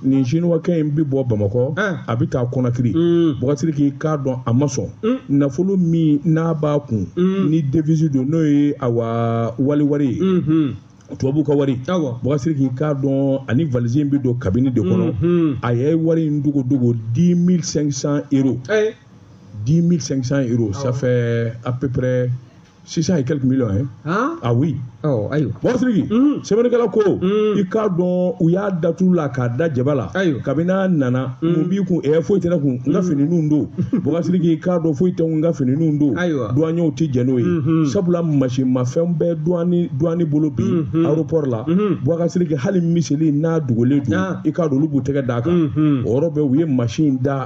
nin sinuwakɛ in bɛ bɔ bamakɔ a bɛ taa konakiri bɔgɔsiriki i k'a dɔn a ma sɔn nafolo min n'a b'a kun ni devisi don n'o ye awa wali wari ye tubabu ka wari bɔgɔsiriki i k'a dɔn ani valise in bɛ don kabini de kɔnɔ a ye wari in dogo dogo 10500 euro 10500 euro ça fait à peu près 600 et quelques millions hein? Hein? ah oui oh, ayiwa bɔgɔsiriki mm. sɛbɛnnikɛla ko mm. i k'a dɔn u y'a datu la k'a da jaba la kabini n'a nana mm. mun b'i kun ɛ foyi tɛ ne kun n ka mm. finininw don bɔgɔsiriki i k'a dɔn foyi tɛ n ka finininw don duwanyew tɛ jɛn n'o ye mm-hmm. sabula masinmafɛn bɛ duwani bolo bi mm-hmm. aéroport la mm-hmm. bɔgɔsiriki hali miseli n'a dogolen don ah. i k'a dɔn olu b'u tɛgɛ d'a kan o yɔrɔ bɛɛ u ye masin da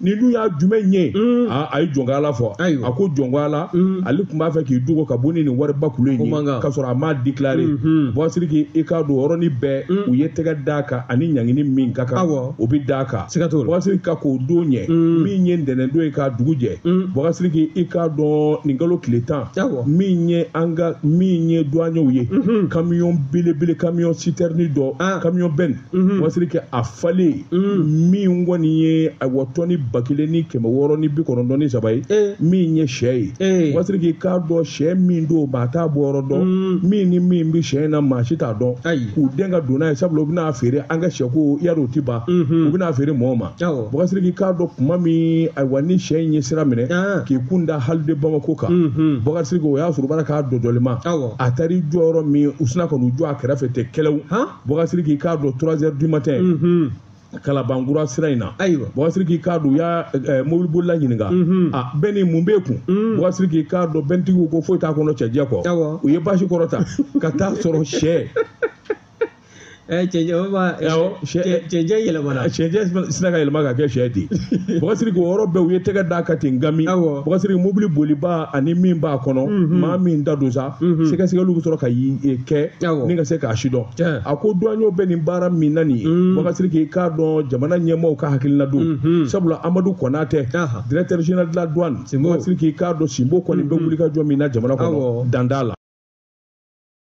nin dun y'a jumɛn ye mm. ah, a ye jɔn ko ala fɔ a ko jɔn ko ala mm. ale tun b'a fɛ k'i dogo ka bɔ ni nin wariba kulu in ye k'a sɔrɔ a m'a déclaré mm-hmm. bɔgɔsiriki i k'a dɔn yɔrɔnin bɛɛ mm. u ye tɛgɛ d'a kan ani ɲangini min ka kan o bɛ d'a kan bɔgɔsiriki ka kɔn o don ɲɛ min ye ntɛnɛndon ye k'a dugu jɛ bɔgɔsiriki i k'a dɔn nin kalo tile tan min ye an ka min ye duwanyew ye mm-hmm. kamiyɔn belebele kamiyɔn sitɛrini dɔ ah. kamiyɔn bɛni Mhm. bɔgɔsiriki a falen mhm. min kɔni ye ayiwa tɔni ba kelen ni kɛmɛ wɔɔrɔ ni bi kɔnɔntɔn ni saba ye eh. min ye sɛ ye eh. bɔgɔsiriki i k'a dɔn sɛ min don maa t'a bɔyɔrɔ dɔn mhm. min ni min bɛ sɛ in na maa si t'a dɔn k'u dɛn ka don n'a ye sabula u bɛn'a feere an ka sɛko yari o ti ban u bɛn'a feere mɔgɔw ma bɔgɔsiriki i k'a dɔn kuma min ayiwa ni sɛ in ye sira minɛ ah. k'i kun da hali de bamako kan bɔgɔsiriki o y'a sɔrɔ baara k'a dɔdɔli ma a taar'i jɔ yɔrɔ min u sinna ka n'u jɔ a kɛrɛfɛ tɛ kɛlɛw bɔgɔsiriki i k'a dɔn trois heures du matin mhm. kalabankura sira in na ayiwa bɔgɔsiriki i k'a dɔn u y'a eh, mobili bolila ɲininka mhm. a ah, bɛni mun b'e kun mhm. bɔgɔsiriki i k'a dɔn bɛntigiw ko foyi t'a kɔnɔ cɛncɛn kɔ u ye basi kɔrɔta ka t'a sɔrɔ sɛ Eh, cɛncɛn eh, yɛlɛmana cɛncɛn sinna ka yɛlɛma ka kɛ sɛ ten bɔgɔsiriki o yɔrɔ bɛɛ u ye tɛgɛ d'a kan ten gami bɔgɔsiriki mobili bolibaa ani min b'a kɔnɔ mhm. maa min ta don sa mhm. sɛgɛsɛgɛliw bɛ sɔrɔ ka e, kɛ ni ka se k'a sidɔn a ko duwanyew bɛ nin baara min na nin ye mhm. bɔgɔsiriki i k'a dɔn jamana ɲɛmaaw ka hakilina don mhm. sabula amadu konate directeur général de la douane bɔgɔsiriki i k'a dɔn sinbo kɔni bɛ wulikajɔ min na jamana kɔnɔ dan t'a la